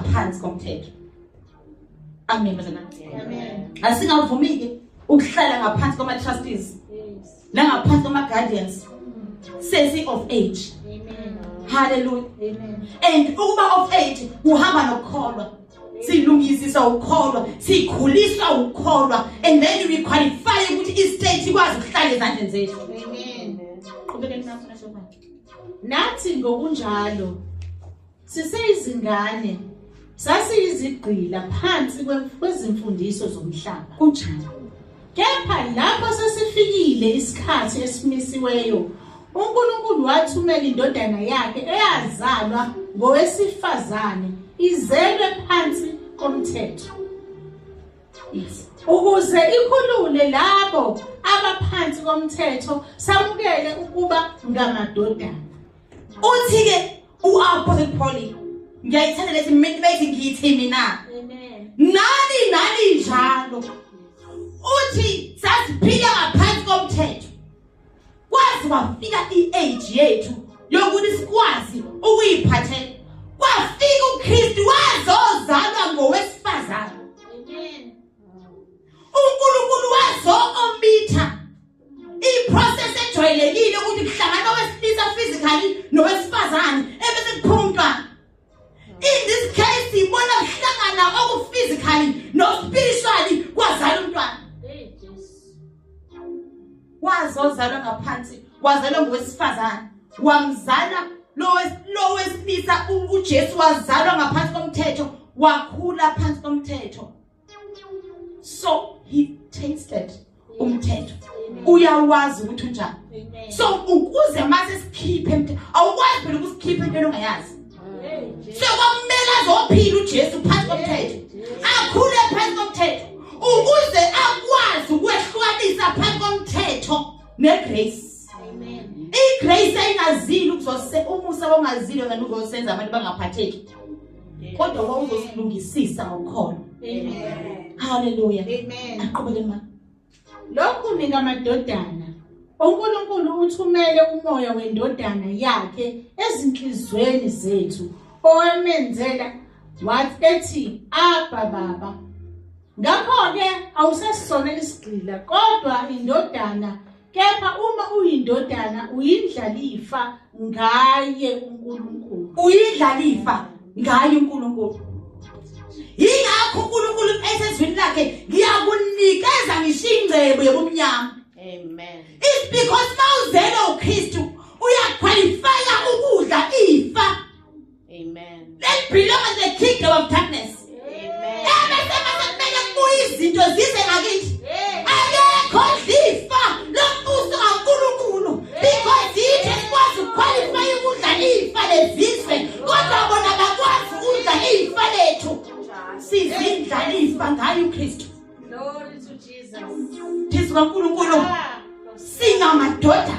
phansi komthetho amen bazana amen asingavumi ke ukuhlala ngaphansi kwama trustees nangaphansi kwama guardians sesi of age amen haleluya amen and ukuba of age uhamba nokukholwa silungisisa ukukholwa sikhuliswa ukukholwa and then we qualify ukuthi i state ikwazi ukuhlala ezandleni zethu amen qhubekeni nakho nasho manje nathi ngokunjalo Siseyizingane sasiyizigqila phansi kwezimfundiso zomhlaba kunjalo. Kepha lapho sesifikile isikhathi esimisiweyo uNkulunkulu wathumela indodana yakhe eyazalwa ngowesifazane izelwe phansi komthetho. Yes. ukuze ikhulule labo abaphansi komthetho samukele ukuba ngamadodana uthi ke uapostle pauli ngiyayithanda lesi mente bethi ngithi mina nani nani njalo uthi sasiphila ngaphansi komthetho kwazi wafika i-age yethu yokuthi sikwazi ukuyiphathela kwafika ukristu wazozalwa ngowesifazane unkulunkulu wazo-omitha iprocess ejwayelekile ukuthi kuhlangana owesilisa physically nowesifazane ebese kuphuma umntwana in this case ibona kuhlangana okuphysically nospiritually kwazala umntwana wazozalwa ngaphansi wazalwa ngowesifazane wamzala lowesilisa uJesu wazalwa ngaphansi komthetho wakhula phansi komthetho so he tasted umthetho uyawazi ukuthi unjani so ukuze mase sikhiphe emthetho awukwazi phela ukusikhipha into ongayazi so kwamele azophila uJesu phansi komthetho akhule phansi komthetho ukuze akwazi ukwehlukanisa phansi komthetho negrace igrace ayingazile ukuzose umusa wongazile ngani uzosenza abantu bangaphatheki kodwa wawuzosilungisisa ngokholo haleluya aqhubeke ma lokhu mina madodana uNkulunkulu uthumele umoya wendodana yakhe ezinhlizweni zethu owamenzela wathi ethi abba baba ngakho ke awusesona isigqila kodwa indodana kepha uma uyindodana uyindlalifa ngaye uNkulunkulu uyidlalifa ngaye uNkulunkulu yingakho uNkulunkulu esezwini lakhe ngiyakunikeza ngisho ingcebo yobumnyama amen is because mawuzelo uKristu uyaqualifya ukudla ifa Amen. That belong in the kingdom of darkness. Amen. Ebesema sekumele kubuye izinto zize ngakithi. Akekho lifa lombuso kaNkulunkulu because yithi esikwazi ukuqualify ukudla ifa lezizwe kodwa bona bakwazi ukudla ifa lethu. Sizindla ifa ngayo uKristu. Glory to Jesus. Jesu kaNkulunkulu. Singamadoda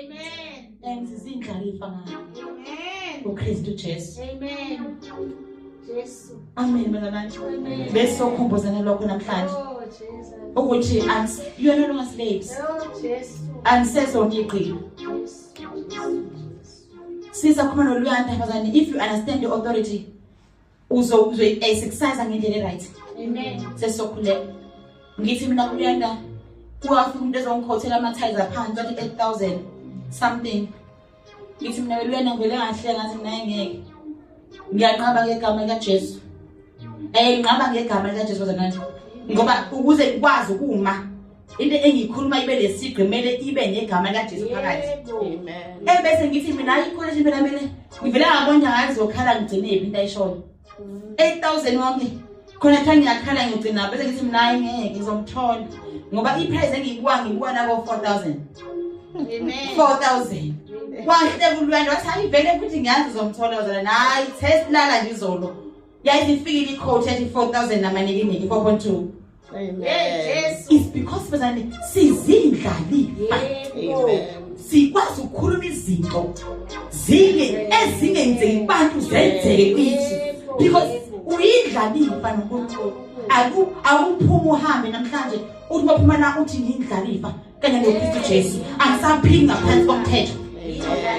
Amen. And zizindlalifa na. Amen. UKristu Jesu. Amen. Jesu. Amen mnganami. Amen. Bese ukhumbuzana lokho namhlanje. Oh Jesus. Ukuthi ans you are no longer slaves. Oh Jesu. Anisezonigqila. Yes. Siza khona loluyanda bazane if you understand the authority uzoyisexercise eh, ngendlela eright sesizokhuleka ngithi mina kuyanda kuwafika umuntu ezongikhothela ama-tiles aphansi wathi eight thousand something ngithi mina beluyena ngivele ngahle ngathi mina engeke ngiyanqaba ngegama likajesu um nginqaba ngegama likajesu baze manje ngoba ukuze ngikwazi ukuma into engiyikhuluma ibe lesigqi kumele ibe negama likajesu phakathi e bese ngithi mina ayikholeshi phela mina ngivele ngabona ngathi zokhala ngigcinephi into ayishoyo mm. eight thousand wonke khona kuthiwa ngiyakhala ngigcina bese ngithi mina ayi ngeke ngizomthola ngoba iprize engiyikuwa ngikuwa nako four thousand four thousand wahle kulwendo wathi hayi vele futhi ngiyazi uzomthola uzala nayi test lala ngizolo yayizifikile icoach ethi four thousand namanikiniki four point two is because bazane sizindlali sikwazi ukukhuluma izinto zile ezingenzeki kubantu zenzeke kithi because uyidlalile mfana uNkulunkulu awuphuma uhambe namhlanje uthi baphuma la uthi ngiyidlalifa kanye nokristu jesu angisaphili ngaphansi komthetho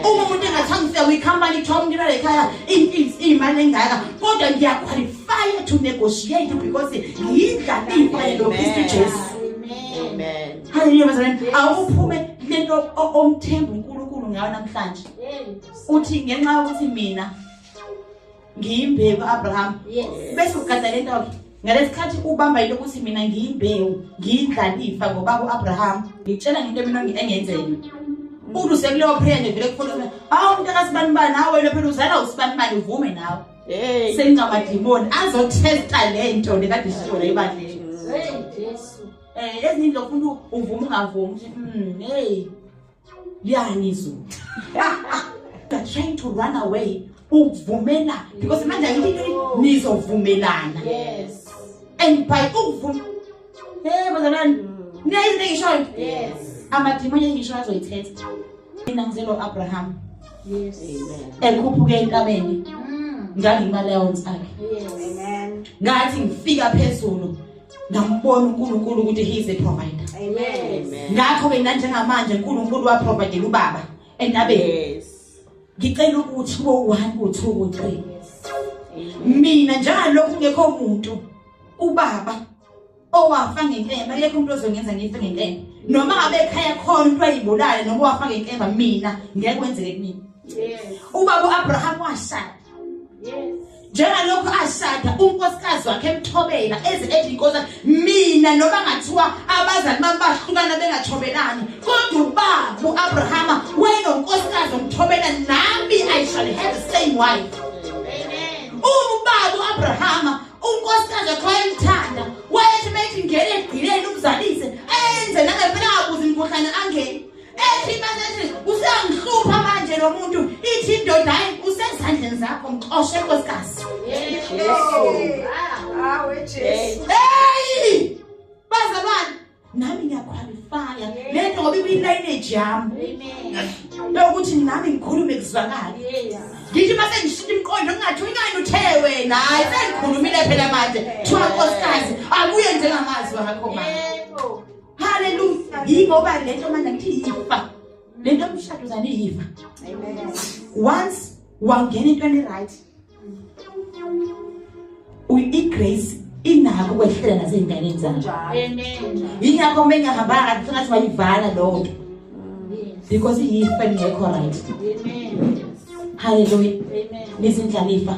uma umuntu engathanga ufika kwicompany kuthiwa umuntu ibale ekhaya iy'mpils iy'mali engaka kodwa ngiyaqualifya to negotiate because ngiyidla iy'mali nokristu jesu haleluya bazalwane awuphume lento omthemba unkulunkulu ngayo namhlanje uthi ngenxa yokuthi mina ngiyimbewu abraham bese ugada le ntoke ngalesikhathi ubamba yilo ukuthi mina ngiyimbewu ngiyindlalifa ngobaba u-abraham ngitshela ngento mina engenzeni umuntu usekuleyo prayer nje vele kufuna hawu umuntu akasibanibani hawu wena phela uzala usibanibani uvume nawe sengingamadimoni azothesta le nto le kade sishola ebandleni um ezinye nto funa uvume ungavumi ukuthi um heyi liyangizwa they're trying to run away ukuvumela because manje ayililo nizovumelana yes and by ukuvuma hey bazalwane niyayizi into engishoyo yes amadimoni engishoyo azoyithetha mina ngizelo Abraham yes amen ekhuphuke enkameni mm. ngangimaleons akhe yes amen ngathi ngifika phezulu ngambona uNkulunkulu ukuthi he is a provider amen ngakho ke nanjengamanje uNkulunkulu wa provide ubaba endabe yes ngicela ukuthi kube u1 u2 u3 mina njengalokhu ngekho umuntu ubaba owafa ngenkemba lekho umuntu ozongenza ngife ngenkemba noma ngabe ekhaya khona umuntu ayibulale noma wafa ngenkemba mina ngeke kwenzeke kimi yes ubaba uAbraham washala njengalokhu ashada unkosikazi wakhe emthobela eze ethi inkosi mina noma ngathiwa abazali bami bahlukana bengathobelani kodwa ubaba uAbrahama wayenonkosikazi omthobela nami i shall have the same wife amen ubaba uAbrahama unkosikazi wakhe wayemthanda wayethi methi ngene egqileni umzalise ayenze nangempela akuzi imkhuhlane angeni ethi manje useyangihlupha manje lo muntu ithi indoda hayi usezandleni zakho mxoshe nkosikazi heyi bazalwane nami ngiyakhwalifaya le nto ngoba ibiyilayineji yami lokuthi nami ngikhulume kuzwakale ngithi uma sengishintsha imiqondo kungathi unyani uthe wena hayi sengikhulumile phela manje kuthiwa nkosikazi akuye njengamazwi akho manje Hallelujah. Yingoba lento manje ngithi yifa. Lento umshado zani yifa. Amen. Once wangena into eni right. Uyi grace inako kwehlela nasezinganeni zanje. Amen. Yingakho mengihamba ngathi ngathi wayivala lo nto. Because yifa ngekho right. Amen. Hallelujah. Amen. Nizindlalifa.